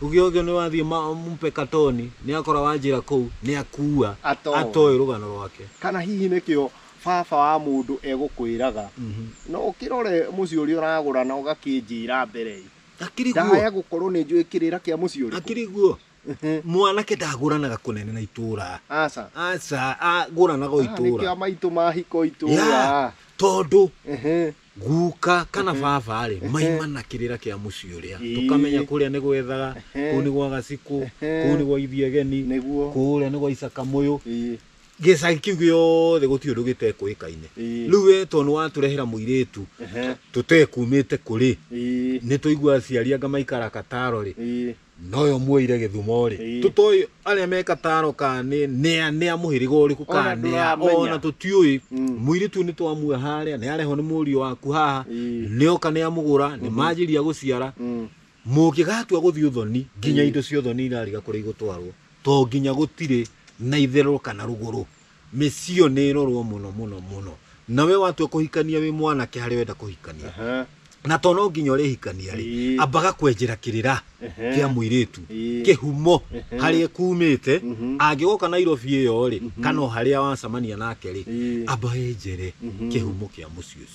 ũgĩogĩa nĩ wathiĩ ma- mpe katoni nĩ akora wanjĩra kũu nĩ akua Atoĩ. atoĩ rũgano rwake kana hihi nĩkĩo Baba wa mũndũ egũkwĩraga, na ũkĩrore mũciĩ ũrĩa ũragũra na ũgakĩnjĩra mbere-ĩ! Hakĩrĩ guo, Ndahaya gũkorwo nĩ njũĩ kĩrĩra kĩa mũciĩ ũrĩkũ. hakĩrĩ guo. Mwanake ndagũranaga kũnene na itũũra. Aca. Aca, agũranaga o Aya nĩkĩo itũũra. amaitũ mahika o itũũra. Ya, tondũ Ehe. guka kana baba-rĩ, maimana kĩrĩra kĩa mũciĩ ũrĩa. Ĩĩ. Tũkamenya kũrĩa nĩ gwethaga, Ehe. kũu nĩ gwa gacikũ, Ehe. kũu nĩ gwa ithiageni, Nĩguo. kũũrĩa nĩ gwa icakamũyũ. Ĩĩ. gĩcagi kĩu gĩothe gũtirĩ ũndũ gĩtekũĩkaine Ĩĩ. rĩu we tondũ nĩwatũrehera mũirĩtu Ehe. tũtekumĩte kũrĩ Ĩĩ. nĩ tũigua aciari anga maikara kataro rĩ Ĩĩ. noyo muoire gĩthumo rĩ Ĩĩ. tũtoĩ arĩa me kataro ka nĩ nĩa nĩa mũhĩrĩga ũrĩkũ Ona ka nĩa ndũramenya. ona tũtiũĩ Mm. mũirĩtu ũyũ nĩtwamuoya harĩa nĩarehwo nĩ mũriũ waku haha Ĩĩ. nĩoka nĩamũgũra nĩmanjĩria gũciara Mm. Mũngĩgatua gũthiĩ ũthoni, nginya indo cia ũthoni irariga kũrĩa igũtwarwo, to nginya gũtirĩ na itherero kana rũgũrũ. Mĩciĩ ĩyo nĩ ĩrorwo mũno mũno mũno. Na we watua kũhikania wĩ mwanake harĩa wenda kũhikania, Aha. na to no nginya ũrĩhikania rĩ Ĩĩ. ambaga kwenjera kĩrĩra Ehe. kĩa mũirĩtu Ĩĩ. kĩhumo Ehe. harĩa kumĩte Mhm. angĩgoka nairobi ĩyo rĩ kana o harĩa wacemania nake rĩ Ĩĩ. amba enjere Mhm. kĩhumo kĩa mũciĩ ũcio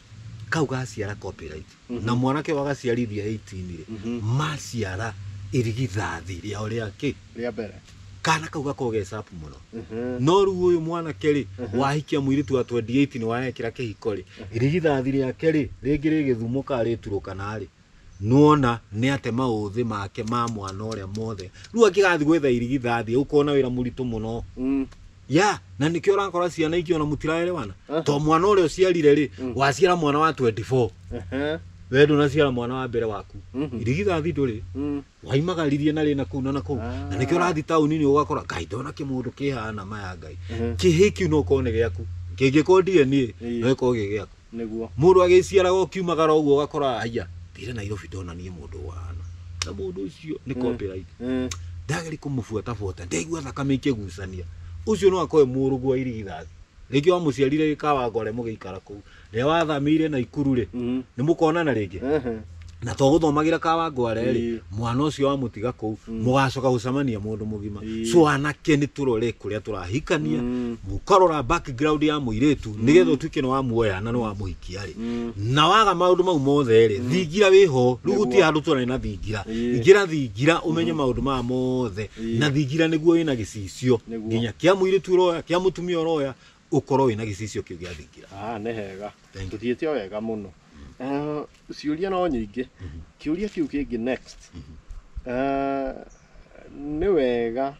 kau gaciara copyright Mhm. na mwanake ũyũ agaciarithia 18 rĩ Mhm. maciara irigithathi rĩao rĩa kĩ rĩa mbere kana kau gakorwo ge sharp mũno Mhm. no rĩu ũyũ mwanake rĩ Mhm. wahikia mũirĩtu wa 28 nĩ waekĩra kĩhiko rĩ irigithathi rĩake rĩ rĩngĩ rĩgĩthumũka rĩturũkana rĩ Nĩwona nĩate maũthĩ make ma mwana ũrĩa mothe. Rĩu angĩgathiĩ gwetha irigithathi egũkorwo na wĩra mũritũ mũno. Mm. Ya, na nĩkĩo ũrakora ciana ingĩ ona mũtiraerewana. Eh. To mwana ũrĩa ũciarire rĩ, Mm. waciara mwana wa 24. Ehe. We ndũnaciara mwana wa mbere waku. Mhm. Irigithathi ndũrĩ. Mm. Waimagaririe na rĩ na kũu na na kũu. Ah. Na nĩkĩo ũrathiĩ taũni-inĩ ũgakora ngai ndona kĩmũndũ kĩhana maya ngai. Mhm. Kĩhĩĩ kĩu no ũkorwo nĩ gĩaku. Kĩngĩkorwo DNA, Ĩĩ. no ĩkorwo gĩ gĩaku. Nĩguo. Mũndũ agĩciaraga ũkiumagara ũguo ũgakora haiya thire Nairobi ndona niĩ mũndũ ũhana na mũndũ ũcio nĩ copyright. Mm. Ndageri kũmũbuata buata ndaigua thakame ikĩgucania. Ũcio no akoe mũrũguo wa irigithathi. Rĩngĩ wamũciarire gĩkawa ngore mũgĩikara kũu. Rĩrĩa wathamĩire Naikuru rĩ, Mhm. nĩ mũkonana rĩngĩ? Ehe. na to gũthomagĩra ka wangware rĩ Ĩĩ. mwana ũcio wamũtiga kũu mũgacoka gũcemania mũndũ mũgima Ĩĩ. so anake nĩ tũrore kũrĩa tũrahikania Mm. mũkarora background ya mũirĩtu nĩgetha ũtuĩke nĩ wamuoya na nĩ wamũhikia rĩ na waga maũndũ mau mothe rĩ thingira wĩho rĩu gũtirĩ handũ tũrarĩ na thingira Ĩĩ. ingĩra thingira ũmenye maũndũ maya mothe na thingira nĩguo wĩna gĩcicio Nĩguo. nginya kĩa mũirĩtu ũroya kĩa mũtumia ũroya ũkorwo wĩna gĩcicio kĩu gĩa thingira Ah, nĩ hega Thank you. tũthiĩte o wega mũno Ah, ciũria no nyingĩ kĩũria kĩu kĩngĩ next Ah, nĩ wega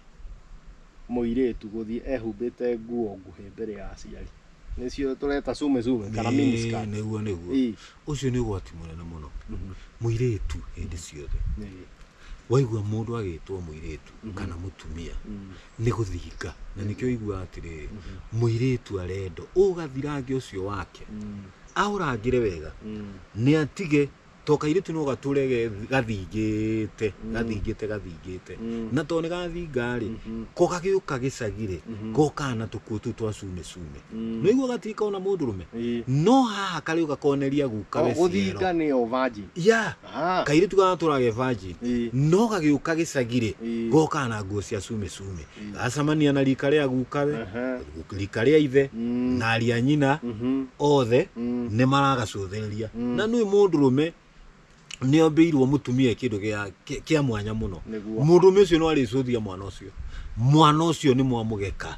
mũirĩtu gũthiĩ ehumbĩte nguo nguhĩ mbere ya aciari nĩcio tũreta sume sume kana miniskirt nĩguo nĩguo Ii, ũcio nĩ ũgwati mũnene mũno ii, mũirĩtu hĩndĩ ciothe ii. waigua mũndũ agĩtwo mũirĩtu kana mũtumia nĩ gũthinga na nĩkĩo iguaga atĩrĩrĩ mũirĩtu arendo ũgathirange ũcio wake aũrangĩre wega nĩ atige to kairĩtu no gatũre ge- gathingĩte gathingĩte gathingĩte na to nĩ gathingarĩ ko gagĩũka gĩcagirĩ gokana tũkuo tũu twa cune cune nĩ iguo gatirĩ kona mũndũrũme Ĩĩ. no haha karĩũka koneria guka we ciero gũthinga nĩyo vanjĩ ya Ah. kairĩtu gagatũrage virgin Ĩĩ. no gagĩũka gĩcagirĩ Ĩĩ. gokaga na nguo cia cume cume gacamania na rika rĩa gukawe Aha. rika rĩa ithe Mm. na aria nyina Mhm. othe Mm. nĩ maragacũthĩrĩria Mm. na nĩ mũndũrũme nĩ ombĩirwo mũtumia kĩndũ gĩa- kĩ- kĩa mwanya mũno Nĩguo. mũndũrũme ũcio no arĩcũthia mwana ũcio mwana ũcio nĩ mwamũgeka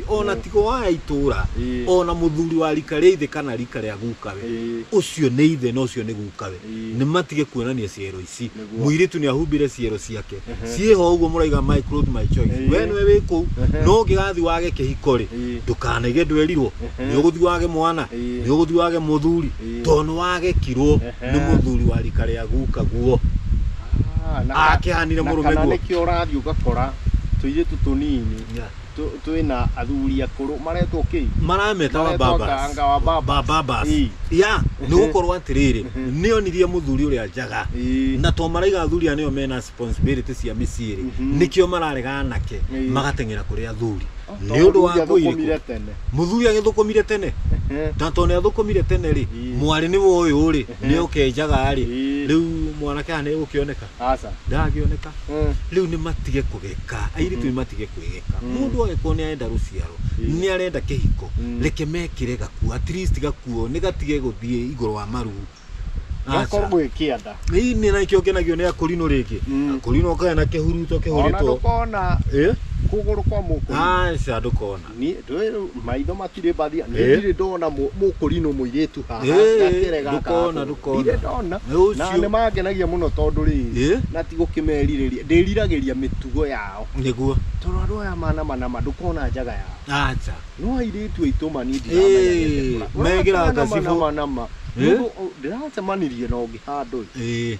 O na ti gwa aya itũũra, o na mũthuri wa riika rĩa ithe kana riika rĩa gukawe, ũcio nĩ ithe na ũcio nĩ gukawe, nĩmatige kuonania ciero ici. Mũirĩtu nĩahumbire ciero ciake. Ciĩho o ũguo mũraiga my clothes my choice. Wee nĩwe wĩ kũu, no ũngĩgathiĩ wage kĩhiko-rĩ, ndũkanaige ndwerirwo, nĩũgũthiĩ wage mwana, nĩũgũthiĩ wage mũthuri, tondũ nĩwagekirwo nĩ mũthuri wa riika rĩa gukaguo. Akĩhanire mũrũme guo. Na kana nĩkĩo ũrathiĩ ũgakora tũirĩtu tũnini. tũ- twĩna athuri akũrũ maretwo kĩ marameta wa Maretwo babas anga wa babas. Ba- babas. Ii. ya nĩ gũkorwo atĩrĩrĩ nĩ onirie mũthuri ũrĩa njaga Ii. na to maraiga athuri aya nĩo mena responsibility cia mĩciĩ rĩ nĩkĩo mararega anake Ii. magateng'era kũrĩ athuri Tondũ nĩ ũndũ wa mũthuri ngũĩ athũkũmire irĩkũ tene. mũthuri agĩthũkũmire tene Ehe. na to nĩ athũkũmire tene rĩ Ii. mwarĩ nĩ woyũ rĩ nĩ okenjaga rĩ Ii. rĩu mwanake aya nĩ egũkĩoneka aca ndangĩoneka Mm. rĩu nĩ matige kũgeka airĩtu nĩ matige kwĩgeka Mm. mũndũ agĩkorwo nĩ arenda rũciaro Mm. nĩ arenda kĩhiko Mm. reke mekĩre gakuo at least gakuo nĩ gatige gũthiĩ igũrũ wa maru Aca. gakorwo gwĩkĩanda Ĩĩ, nĩ nakĩo ngenagio nĩ akorinũ rĩngĩ Mm. akorinũ kae na kĩhuruto ona kĩhũrĩtwo ndũkona Ĩ? kũgũrũ kwa mũkũri aca ndũkona Niĩ ndũĩ rĩu maitho matirĩ mbathia niĩ Eh. ndirĩ ndona mũ- mũkũrinũ mũirĩtu haha Eh, gakerega ndũkona, gakũ. ndũkona. ndirĩ ndona Nĩ ũcio. na nĩ mangenagia mũno tondũ rĩrĩ Eh. na ti gũkĩmerirĩria ndĩriragĩria mĩtugo yao nĩguo tondũ andũ aya mana manama ndũkona njaga yao aca no airĩtu aitũ mani Eh, ndiramenyagĩte megĩra ngacibo. manama Eh. mũndũ ndĩracemanirie na ũngĩ handũ ĩ Ĩĩ.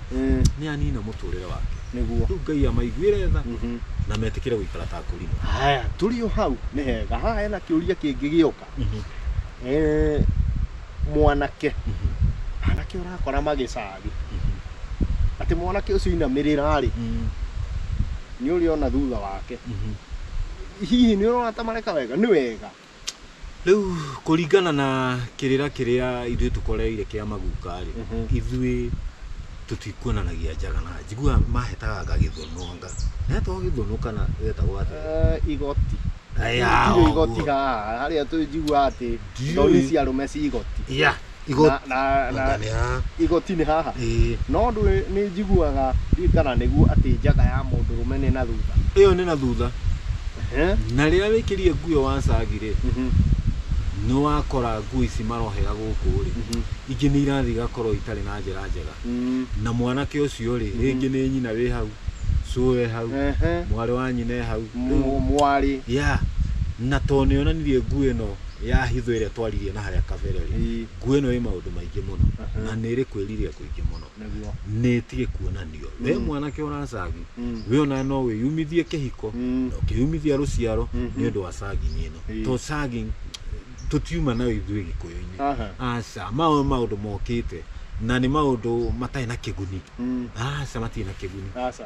Mm. nĩ anina mũtũrĩre wake Nĩguo. rĩu ngai amaiguĩre tha Mhm. na metĩkĩre gũikara ta kũrimũ Haya, tũrĩ o hau nĩ hega. Haha hena kĩũria kĩngĩ gĩoka. Eh, mwanake anake ũrakora magĩcagi atĩ mwanake ũcio inamĩrĩra-rĩ nĩ ũrĩona thutha wake hihi nĩ ũrona ta mareka wega nĩ wega Rĩu kũringana na kĩrĩra kĩrĩa ithuĩ tũkoreire kĩa maguka rĩ ithuĩ tũtikuonanagia njaga na njiguaga mahetaga anga gĩthũnũ anga hetagwo gĩthũnũ kana getagwo atĩa Eh, igoti Aya, Gũtirĩ igoti ũguo. haha harĩa tũnjigua atĩ Ndiũĩ. thoni cia arũme ci igoti ya Igo- na, na, na, Nĩ haha. igoti nĩ haha Ĩĩ. no ndũĩ nĩ njiguaga ndiĩ kana nĩguo atĩ njaga ya mũndũrũme nĩ na thutha ĩyo nĩ na thutha Ehe. na rĩrĩa wĩkĩrie nguo ĩyo wacagi rĩ Mhm. nĩ wakora nguo ici marohera gũkũ rĩ Mhm. ingĩ nĩ irathiĩ igakorwo itarĩ na njĩra njega Mm. na mwanake ũcio rĩ rĩngĩ nĩ nyina wĩ hau cũe hau Ehe. mwarĩ wa nyina e hau Mũ- mwarĩ ya na to nĩonanirie nguo ĩno ya hitho ĩrĩa twaririe na harĩa kabere rĩ Ĩĩ. nguo ĩno ĩ maũndũ maingĩ mũno Aha. na nĩ ĩrĩ kwĩrirĩria kũingĩ mũno Nĩguo. nĩ ĩtige kuonanio we mwanake ũracagi Mm. we ona no wĩyumithie kĩhiko Mm. na ũkĩyumithia rũciaro nĩ ũndũ wa sagging ĩno Ĩĩ. to sagging tũtiuma nayo ithuĩ gĩkũyũ-inĩ Aha. aca maũ maũndũ mokĩte na nĩ maũndũ matarĩ na kĩguni Mm. aca matirĩ na kĩguni Aca.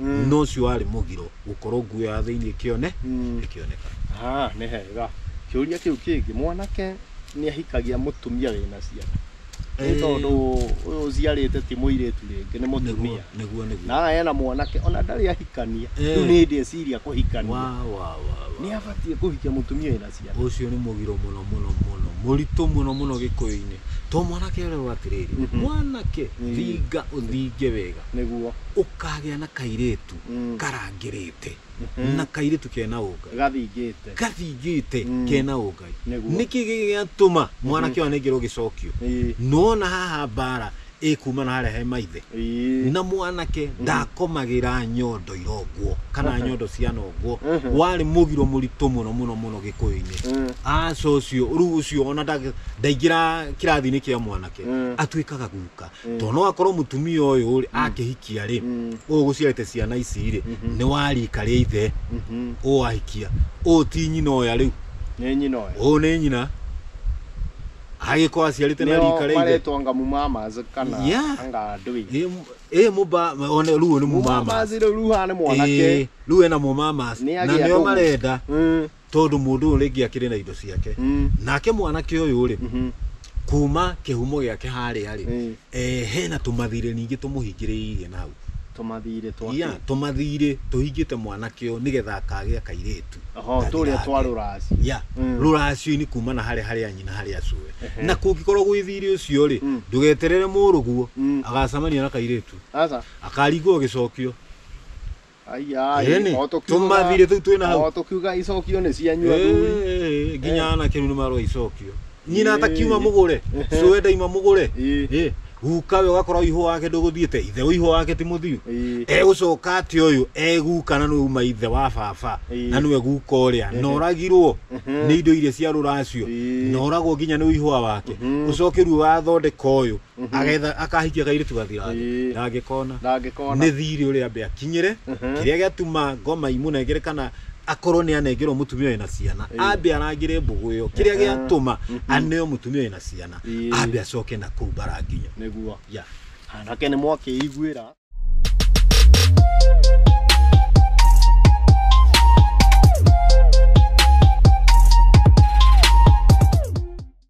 Mm. no ũcio warĩ mũgiro gũkorwo nguo ya thĩinĩ ĩkĩone Mm. ĩkĩoneka Ah, nĩ hega kĩũria kĩu kĩngĩ mwanake nĩ ahikagia mũtumia wĩna ciana nĩ Eh. tondũ ũyũ ũciarĩte ti mũirĩtu rĩngĩ nĩ mũtumia nĩguo nĩguo na ena mwanake ona ndarĩ ahikania Eh. rĩu nĩ hĩndĩ eciria kũhikania wa wa wa wa nĩ abatiĩ kũhikia mũtumia wĩna ciana. Ũcio nĩ mũgiro mũno mũno mũno mũritũ mũno mũno gĩkũyũ-inĩ to mwanake ererwo atĩrĩrĩ Mhm. mwanake Mhm. thinga ũthinge wega Nĩguo. ũkagĩa na kairĩtu Mm. karangĩrĩte Mhm. na kairĩtu kena ũngai Gathingĩte. gathingĩte Mm. kena ũngai Nĩguo. nĩkĩ gĩgĩatũma mwanake ũyũ anengerwo gĩcokio Ĩĩ. nona haha mbara Ĩ kuma na harĩa he maithe Ĩĩ. na mwanake ndakomagĩra nyondo irongwo kana nyondo cia nongwo Mhm. warĩ mũgiro mũritũ mũno mũno mũno gĩkũyũ-inĩ Mm. aca ũcio rĩu ũcio ona ndagĩ- ndaingĩra kĩrathi-inĩ kĩa mwanake Mm. atuĩkaga guka Mm. tondũ no akorwo mũtumia ũyũ rĩ akĩhikia rĩ Mm. ũyũ ũgũciarĩte ciana ici rĩ Mhm. nĩ wa rika rĩa ithe Mhm. ũyũ ahikia ũyũ ti nyina ũya rĩu Nĩ nyina ũyũ. ũyũ nĩ nyina agĩkorwo aciarĩte na rika rĩa ithe maretwa nga mumamas kana Yeah. anga ndui Ĩ, m- ĩ mũba one rĩu ũyũ nĩ mũmama mumamas rä u ruha nä mwanake rĩu ena mũmamas Nĩ na agĩa nĩo ndũgũ. marenda Mm, tondũ mũndũ ũyũ rĩngĩ akĩrĩ na indo ciake mm, nake mwanake ũyũ rĩ mhm, kuma kĩhumo gĩake harĩa rĩ mm. Eh, hena tũmathirĩ ningĩ tũmũhingĩrĩirie na hau tũmathirĩ twa ya kĩ? tũmathirĩ tũhingĩte mwanake ũyũ nĩgetha akagĩa kairĩtu Oho, gathirange. tũrĩa twa rũracio. ya Mm. rũracio-inĩ kumana harĩa harĩa nyina harĩa acũwe Ehe. na kũngĩkorwo gwĩ thirĩ ũcio rĩ Mm. ndũgeterere mũrũguo Mm. agacemania na kairĩtu aca akaringwo gĩcokio Ĩnĩ, tũmathirĩ tũu twĩna hau. Tũkiuga icokio nĩ cianyu athuri. Ĩĩ, Nginya Eh. anake rĩu nĩ marwa icokio. Nyina Ĩĩ. atakiuma mũgũre, ũcio we ndaima mũgũre. Ĩĩ. Ĩĩ, Guka we ũgakorwo ihũ wake ndũgũthiĩte, ithe wa ihũ wake ti mũthiu. Ĩĩ. Egũcoka atĩ ũyũ e guka na nĩwe uma ithe wa baba Ĩĩ. na nĩwe guka ũrĩa na ũragirwo nĩ indo iria cia rũracio Ĩĩ. na ũragwo nginya nĩ ũihũa wake ũcoke rĩu wathondeka ũyũ Mhm. agetha akahikia kairitu gathiratha Ĩĩ. na angĩkona na angĩkona nĩ thiri ũrĩa ambe akinyĩre Mhm. kĩrĩa gĩatuma ngoma imũnengere kana akorwo nĩ anengerwo mũtumia wĩna ciana Ĩĩ. ambe arangĩre mbũgũ ĩyo kĩrĩa Aha. gĩatũma aneo mũtumia wĩna ciana Ĩĩ. ambe acoke na kũu mbaranginyo nĩguo yeah. anake nĩ mwakĩiguĩra